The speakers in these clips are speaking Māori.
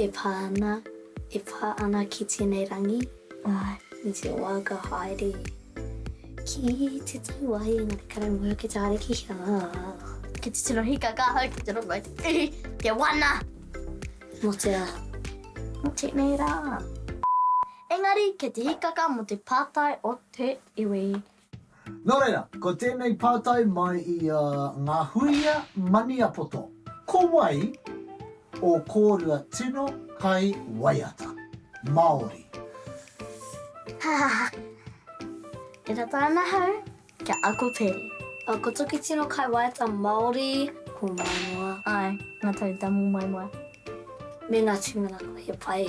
E pā ana, e pā ana ki tēnei rangi, me te waka haere ki te taua i Ngāti Karamoja ki te haere ki hea? Ki te tino hika ka hau ki te rongo i te ihi, te wana. Mō te rā, mō tēnei rā. Engari kei te hikaka mō te pātai o te iwi. Nō reira, ko tēnei pātai mai i a Ngahuia Maniapoto, ko wai ō kōrua tino kai waiata? Māori. Hahaha. E rata ana ahau kia ako pere. A ko toki tino kai waiata Māori. Ko Maimoa. Ae, nga tau tamu Maimoa. Me nga tumanawa he pai.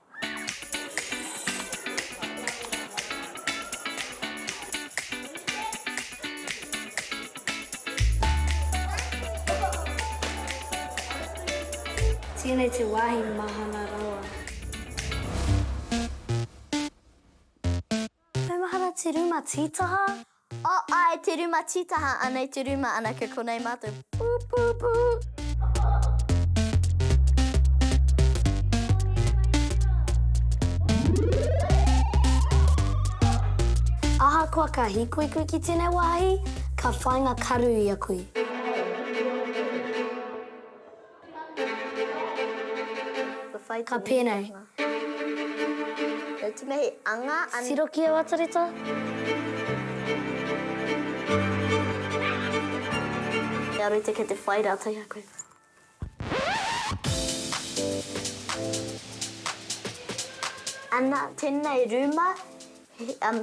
Tēnei te wāhi mahana rawa. Maumahara te ruma tītaha. Aae te ruma tītaha anei te ruma anake konei matou pupupu. Ahakoa ka hikoi koe ki tenei wahi ka whainga karu ia koe. Ka pēnei. Tiro ki aua tareto. Kia rite kei te whai rātou i a koe. Ana, tēnei rūma,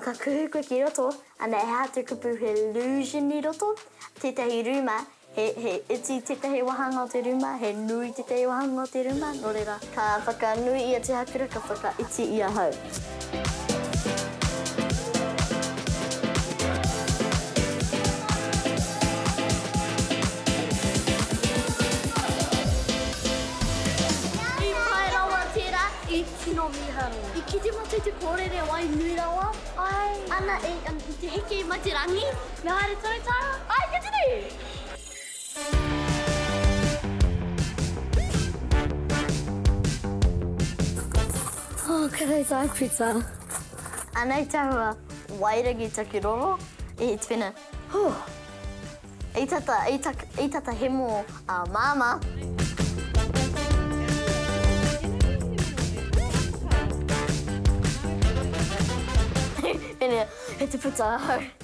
ka kuhu koe ki roto, ana he hā te kupu, he lūsion i roto, tētahi rūma, He iti tētahi wāhanga o te rūma, he nui tētahi wāhanga o te rūma, nō reira, ka whakanui ia tihakura, ka whakaiti i ahau. I pai rawa tērā, i tino mīharo. I kite mātou i te kōrere wai nui rawa, āe. Ana, i te heke mai te rangi. Mea haere tonu tā? Ai, kia tini! Oh, ka rei tā Pita. Anei te hua, wairangi taku roro, e te whena. Huh! I tata, i tak, i tata hemo a Māmā. He te puta ahau.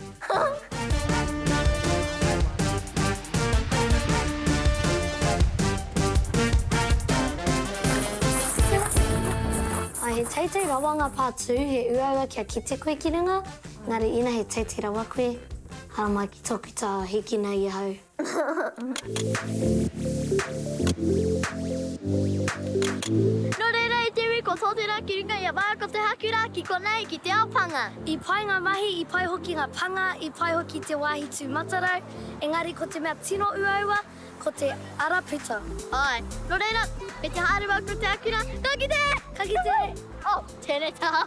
Ā, he teitei rawa ngā pātū, he uaua kia kite koe ki runga, engari ina he teitei rawa koe, haramai ki tōku taha hīkina i ahau. Nō reira i te iwi ko Tōtera ki runga i a Mara ko Te Hakura ki konei ki te ao panga. I pai ngā mahi, i pai hoki ngā panga, i pai hoki te wāhi tū matarau, engari ko te mea tino uaua ko te ara puta. Āe, nō reira, me te haere wau ko Te Hakura, ka kite! Ka kite! Oh, tēnei taha!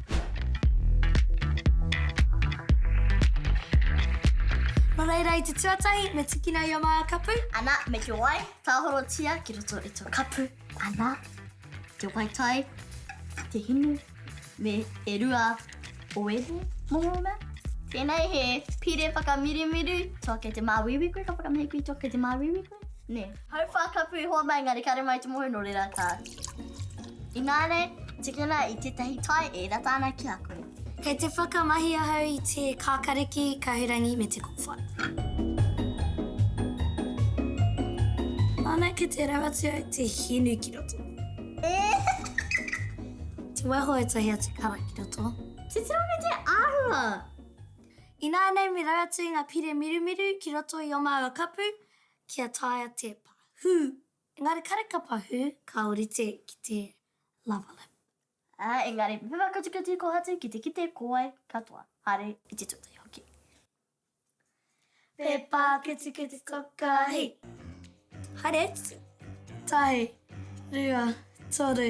Nō reira, i te tuatahi, me tikina i a Maia kapu. Ana, me te wai, tāhorotia ki roto i tō kapu. Ana, te wai tai, te hinu, me e rua o ēnei momo mea. Tēnei he pire whakamirimiru, tō kei te māuiui koe ka whakamihi koe i tō kei te māuiui koe. Nē. Hau whā kapu i hoa mai ngā rekare mai te moho nō reira ka. Inānei, tikina i tētahi tai e ira tāna ki a koe. Kei te whakamahi ahau i te kākariki, kahurangi me te kōwhai. Ana ki te rau atu au te hinu ki roto. Te waiho e tahi atu kara ki roto. Titiro me te āhua! Ināianei me rau atu i ngā pire mirumiru ki roto i ō māua kapu, kia taea te pahū. Engari kāre ka pahū, ka ōrite ki te lava lip. Ā, engari me pepa kutukutu kōhatu ki te kite kōwae katoa, haere i te tuatahi hoki. Pepa kutukutu toka, hei! Haere atu! Tahi, rua, toru.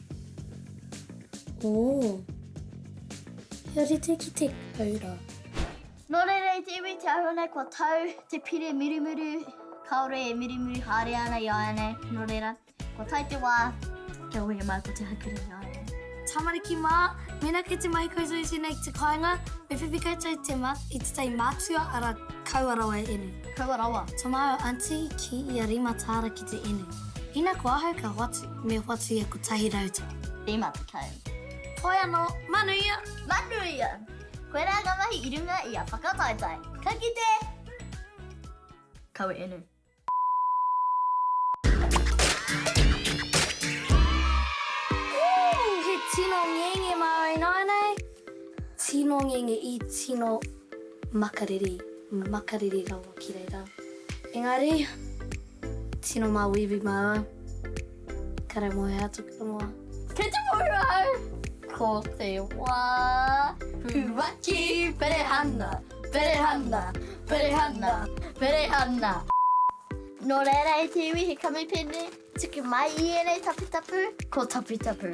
Ooh. Kia rite ki te koura. Nō reira i te iwi te ahurei kua tau te pire mirimiri kāore e mirimiri haere ana i āianei, nō reira, kua tae te wā kia wehe mai ko Te Haukiri i āianei. Tamariki mā, mēnā kei te mahi koutou i tēnei ki te kāinga, me whiwhi koutou i te ma, i te tai mātua, arā, kaua rawa e inu. Kaua rawa. Tamaau aunty ki ia rima tāra ki te inu. Ina ko ahau ka hoatu. Me whatu ia kotahi rau tau. Rima tekau. Hoi ano, manu ia! Manu ia! Koe ra nga mahi i runga i a whakataetae. Ka kite! Kawe enu. Ooh! He tino ngenge mau ināianei, tino ngenge i tino makariri, makariri rawa ki reira. Engari. Tino māuiui māua. Ka rau moe atu ki te moa. Kei te muru au! Ko te wā puaki perehana, perehana, perehana, perehana. Nō reira e te iwi he kamupene, tuku mai i ēnei taputapu, ko taputapu.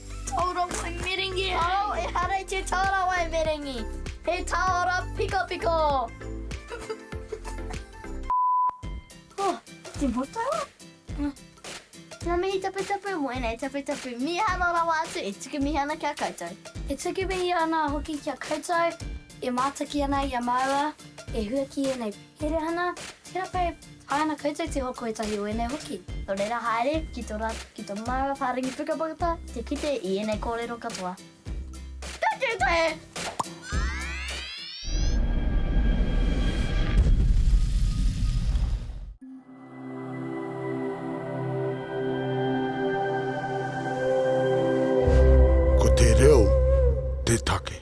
Tārawai merengi hei! Ehara i te tārawai merengi, he tāora pikapika! Oh, te motoa? Ngā mihi taputapu mō ēnei taputapu mīharo rawa atu e tuku mihi ana ki a koutou. E tuku mihi ana hoki ki a koutou e mātaki ana i a māua e hua ki ēnei. Erehana, tera koe, pai ana koutou te hoko etahi o enei hoki. No reira haere ki to ratou, ki to maua paringi pukapukata te kite i enei korero katoa. Takitahi! Ko te reo te take.